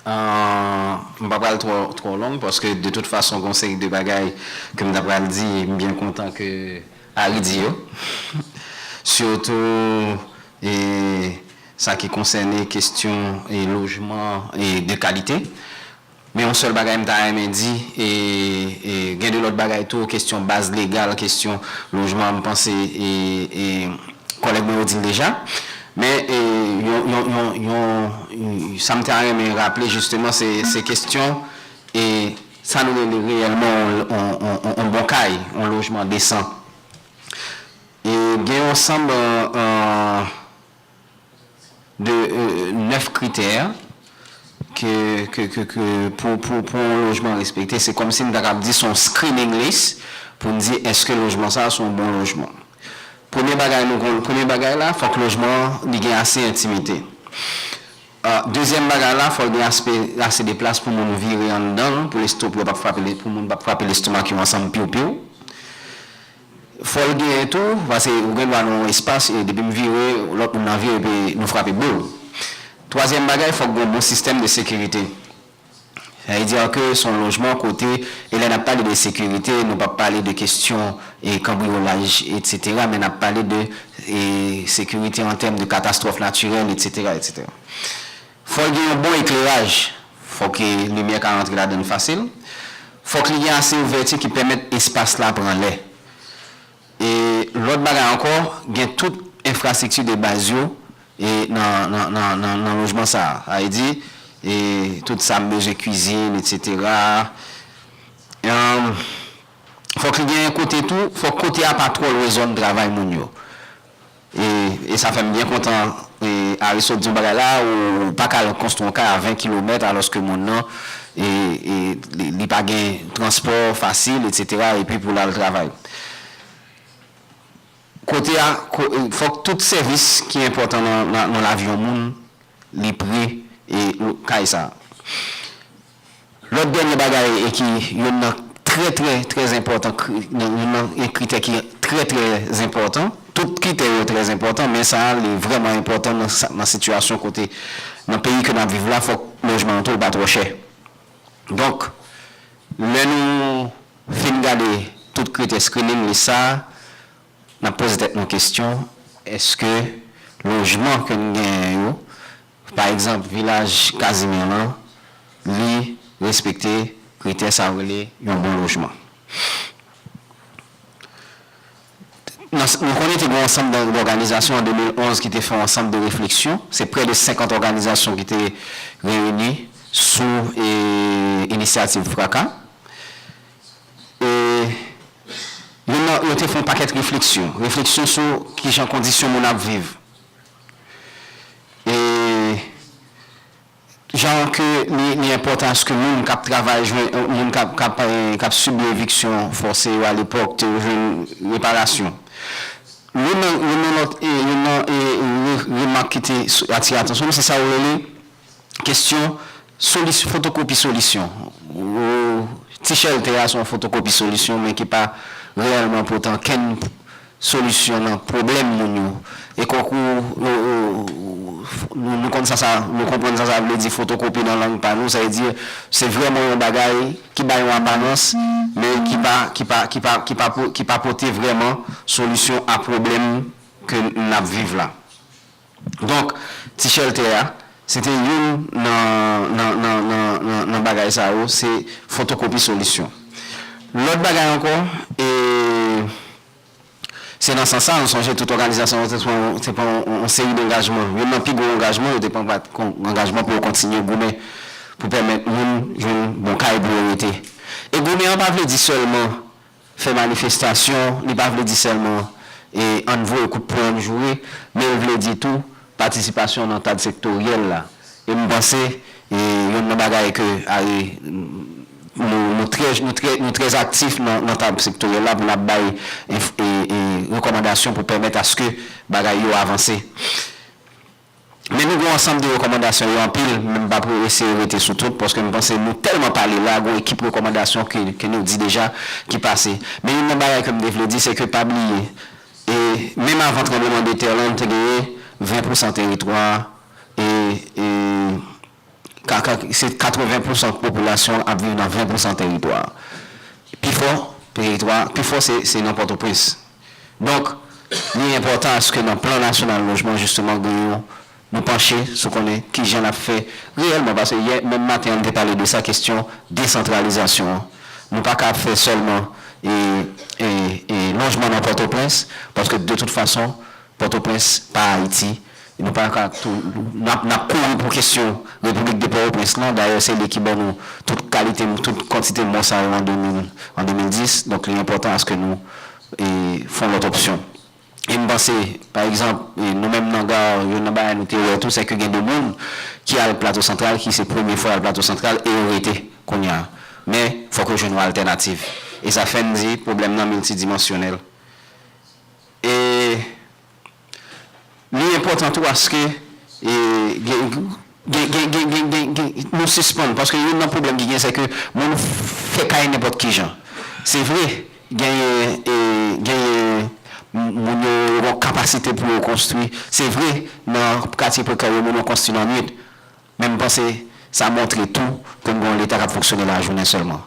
Ahh m pa pral twò twò long paske de tout fason gon seri de bagay ke m ta pral di e m byen kontan ke Ari di yo sitou e sa ki konsène kestyon e lojman e de kalite men yon sèl bagay m ta renmen di e e gen de lòt bagay tou kestyon baz legal kestyon lojman m panse e e kòlèg mwen yo di l deja Men sa m ta renmen raple jisteman se kestyon sa nou rele reyèlman yon bon kay, yon lojman desan. E gen yon ansanm de 9 kritè ke ke ke ke pou pou pou yon lojman respekte se kòmsi n ta kab di son screening list pou n di èske lojman sa son bon lojman premye bagay nou konn premye bagay la fòk lojman an li gen ase entimite dezyèm bagay la fòl gen aspe ase de plas pou moun vire anndan l pou lestop yo pap frape pou moun pap frape lestomak yo ansanm piwpiw Fòl genyen tou pase ou gen dwa nan yon espas e depim vire lòt moun nan vire epi nou frape boul. Twazyèm bagay fòk gon bon sistèm de sekirite. Sa vle dire ke son lojman kote e lè nap pale de sekirite nou pap pale de kestyon e kanbriyolaj etc men nap pale de e sekirite an tèm de katastwòf natirèl etc etc. Fò l gen yon bon ekleraj, fò ke limyè ka rantre ladan l fasil, fòk li gen ase ouvèti ki pèmèt espas la pran lè. E lòt bagay ankò, gen tout enfrastrikti de baz yo nan lojman sa a. Sa vle di, tout sa m bezwen, kwizin, etsetera. Fòk li gen kote tou, fòk kote a pa twò lwen zòn travay moun yo. E sa fèm byen kontan Aristo t di yon bagay la a ou paka al konstwi yon kay a 20 kilomèt alòske moun nan li pa gen transpò fasil etc epi pou l al travay kote a fòk tout sèvis ki enpòtan nan lavi yon moun li pre kay sa a. Lòt dènye bagay e ki youn nan trè trè trè zenpòtan kri nan youn nan e kritè ki trè trè zenpòtan, tout kritè yo trè zenpòtan men sa a li vrèman enpòtan nan sa nan sitiyasyon kote nan peyi ke n ap viv la fòk lojman an tou l pa twò chè. Donk lè nou fin gade tout kritè screening lis sa a n ap poze tèt nou kesyon èske lojman ke n genyen yo Pa egzanp, Vilaj Kazimè lan, li respekte kritè sa yo rele yon bon lojman. Nou konnen te gen yon ansanm dòganizasyon an 2011 ki te fè yon ansanm de refleksyon. Se prè de 50 òganizasyon ki te reyini sou inisyativ FRAKA. E yo te fè yon pakèt refleksyon. Refleksyon sou kijan kondisyon moun ap viv. e jan ke li enpòtan aske moun kap travay jwenn moun kap sibi eviksyon fòse yo alepòk te jwenn reparasyon. Youn nan lòt remak ki te atire atansyon m se sa yo rele. Kesyon, Solis, fotokopi solisyon. Ou, Ti chèlte a se yon fotokopi solisyon men ki pa reyèlman pote ankenn solisyon nan pwoblèm moun yo. E konkou ou, nou konn sa sa, nou konprann sa sa vle di fotokopi nan lang pa nou, sa vle di se vrèman yon bagay ki bay yon aparans men ki pa, ki pa, ki pa, ki pa, ki pa pote vrèman solisyon a pwoblèm ke n ap viv la. Donk, ti chèltè a, se te youn nan nan bagay sa yo, se fotokopi solisyon. Lòt bagay ankò, e se nan sans sa a, nou sonje tout òganizasyon yo te pran yon te pran yon seri dangajman. Youn nan pi gwo angajman yo te pran pa t angajman pou yo kontinye goumen pou pèmèt moun jwenn bon kay pou yo rete. E goumen an pa vle di sèlman. Fè manifestasyon li pa vle di sèlman e ann voye kout pwen ann joure men l vle di tou patisipasyon nan kad sektoryèl la e m panse e yonn nan bagay ke are nou nou trè nou trè nou trè aktif nan nan tab sektoryèl la pou n ap bay e e rekòmandasyon pou pèmèt aske bagay yo avanse. Men nou gen yon ansanm de rekòmandasyon yo anpil men m pa p eseye rete sou tout paske m panse nou tèlman pale la gen yon ekip rekòmandasyon ke ke nou di deja ki pase. Men youn nan bagay ke m te vle di se ke pa bliye e menm avan tranbleman de tè lan te genyen 20 pousan teritwa e e Kaka se 80 pousan popilasyon ap viv nan 20 pousan teritwa. Pi fò teritwa, pi fò se se nan Pòtoprens. Donk, li enpòtan aske nan plan nasyonal lojman jisteman gen yon nou panche sou konnen kijan n ap fè reyèlman paske yè menm maten an m te pale de sa kesyon desantralizasyon an. Nou pa ka ap fè sèlman e e e lojman nan Pòtoprens paske de tout fason Pòtoprens pa Ayiti, e nou pa ka tou nap nap kouri pou kesyon Repiblik de Pòtoprens lan, dayè se li ki ban nou tout kalite tout kantite mò sa yo an 2000 an 2010, donk li enpòtan aske nou e fon lòt opsyon. E m panse pa egzanp e nou menm nan GARR youn nan bagay nou te wè tou sèke gen de moun ki al Plato Santral ki se premye fwa yo al Plato Santral e yo rete kounye a, men fòk yo jwenn yon altènativ e sa fè n di pwoblèm nan miltidimansyonèl. E li enpòtan tou aske nou sispann, paske youn nan pwoblèm ki gen se ke moun fè kay nenpòt ki jan. Se vre, genyen moun yo gen kapasite pou yo konstwi, se vre nan katye prekè yo moun yo konstwi nan nwit, Men m panse sa montre tou ke m gen yon Leta k ap fonksyone lajounen sèlman.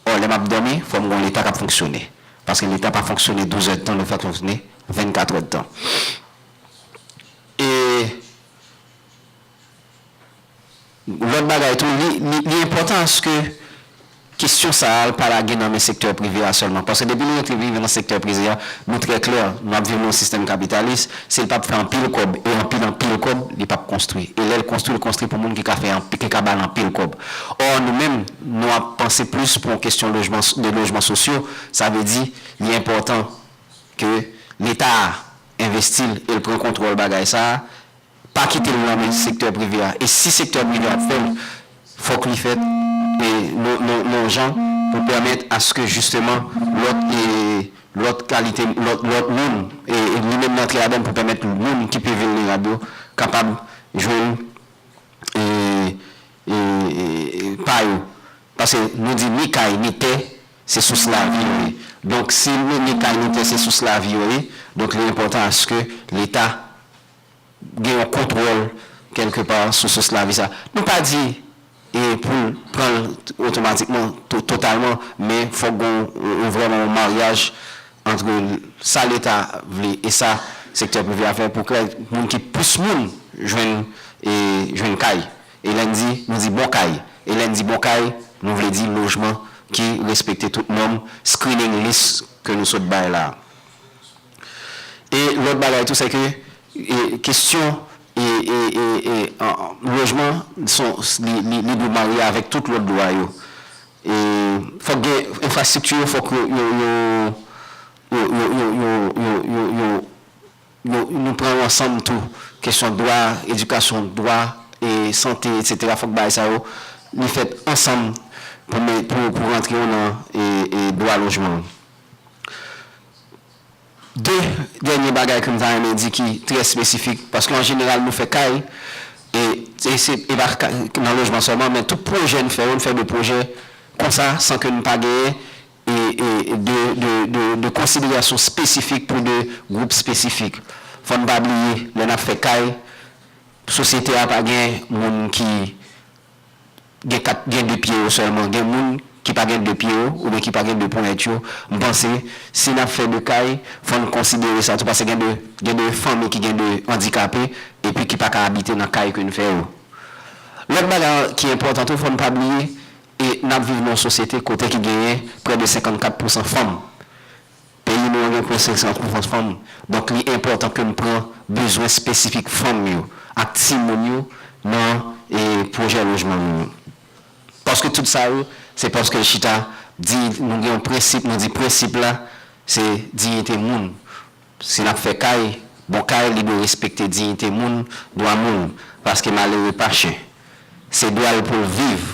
Ò, lè m ap dòmi, fò m gen yon Leta k ap fonksyone. Paske Leta pa fonksyone douzèdtan, li fonksyone vennkatrèdtan. E lòt bagay tou, li enpòtan aske. Kestyon sa a pa lage nan men sektè prive a sèlman. Paske depi nou rantre viv nan sektè prize a, nou trè klè, nou ap viv nan yon sistèm kapitalis, si l pa p fè anpil kòb, e anpil anpil kòb, li pa p konstwi. E lè l konstwi, l konstwi pou moun ki ka fè anpi, ki ka ba l anpil kòb. Ò, nou menm, nou ap panse plis pou yon kestyon lojman, de lojman sosyo, sa vle di, li enpòtan ke Leta a envesti l e l pran kontwòl bagay sa a, pa kitel nan men sektè prive a e si sektè prive a ap fèl fòk li fèt yon jan pou pèmèt aske jisteman lòt lòt kalite lòt lòt moun li menm li antre ladann pou pèmèt moun ki pi vilnerab yo kapab jwenn pa yo paske nou di ni kay ni tè se sous lavi yo ye donk si ni kay ni tè se sous lavi yo ye donk li enpòtan aske leta gen yon kontwòl kèlke pa sou sous lavi sa. Nou pa di pou l pran l otomatikman, totalman, men fòk gen yon vrèman yon maryaj antre sa leta vle e sa sektè prive a fè pou kè moun ki plis moun jwenn jwenn kay. E lè n di, nou di bon kay. E lè n di bon kay, nou vle di lojman ki respekte tout nòm screening list ke nou sot bay la a. E lòt bagay tou sèke kestyon lojman son li dwe marye avèk tout lòt dwa yo. E fòk gen enfrastrikti yo fòk yo nou pran yo ansanm tou. Kestyon dwa edikasyon, dwa sante etsetera fòk bagay sa yo li fèt ansanm pou rantre yo nan dwa lojman. 2 dènye bagay ke m ta renmen di ki trè espesifik, paske an jeneral nou fè kay, e se e pa kay nan lojman sèlman, men tout pwojè n fè yo, n fè 2 pwojè konsa san ke n pa genyen e e de de de de konsiderasyon espesifik pou 2 gwoup espesifik. Fò n pa bliye lè n ap fè kay, sosyete a pa gen moun ki. gen 4 gen 2 pye yo sèlman gen moun ki pa gen 2 pye yo oubyen ki pa gen 2 ponyèt yo m panse si nap fè 2 kay fò n konsidere sa tou pase gen 2 gen 2 fanmi ki gen 2 andikape epi ki pa ka abite nan kay ke n fè yo lòt bagay an ki enpòtan tou fò n pa bliye e nap viv nan yon sosyete kote ki genyen prè de 54 pousan fanm. Peyi nou an gen konsèy san kouvant fanm, donk li enpòtan ke n pran bezwen espesifik fanm yo ak timoun yo nan pwojè lojman nou yo. Paske tout sa yo, se paske l chita diyite, nou gen yon prensip, nou di prensip la se diyite moun. Si n ap fè kay, bon kay li dwe respekte diyite moun, dwa moun, paske malere pa chen. Se dwa l pou l viv.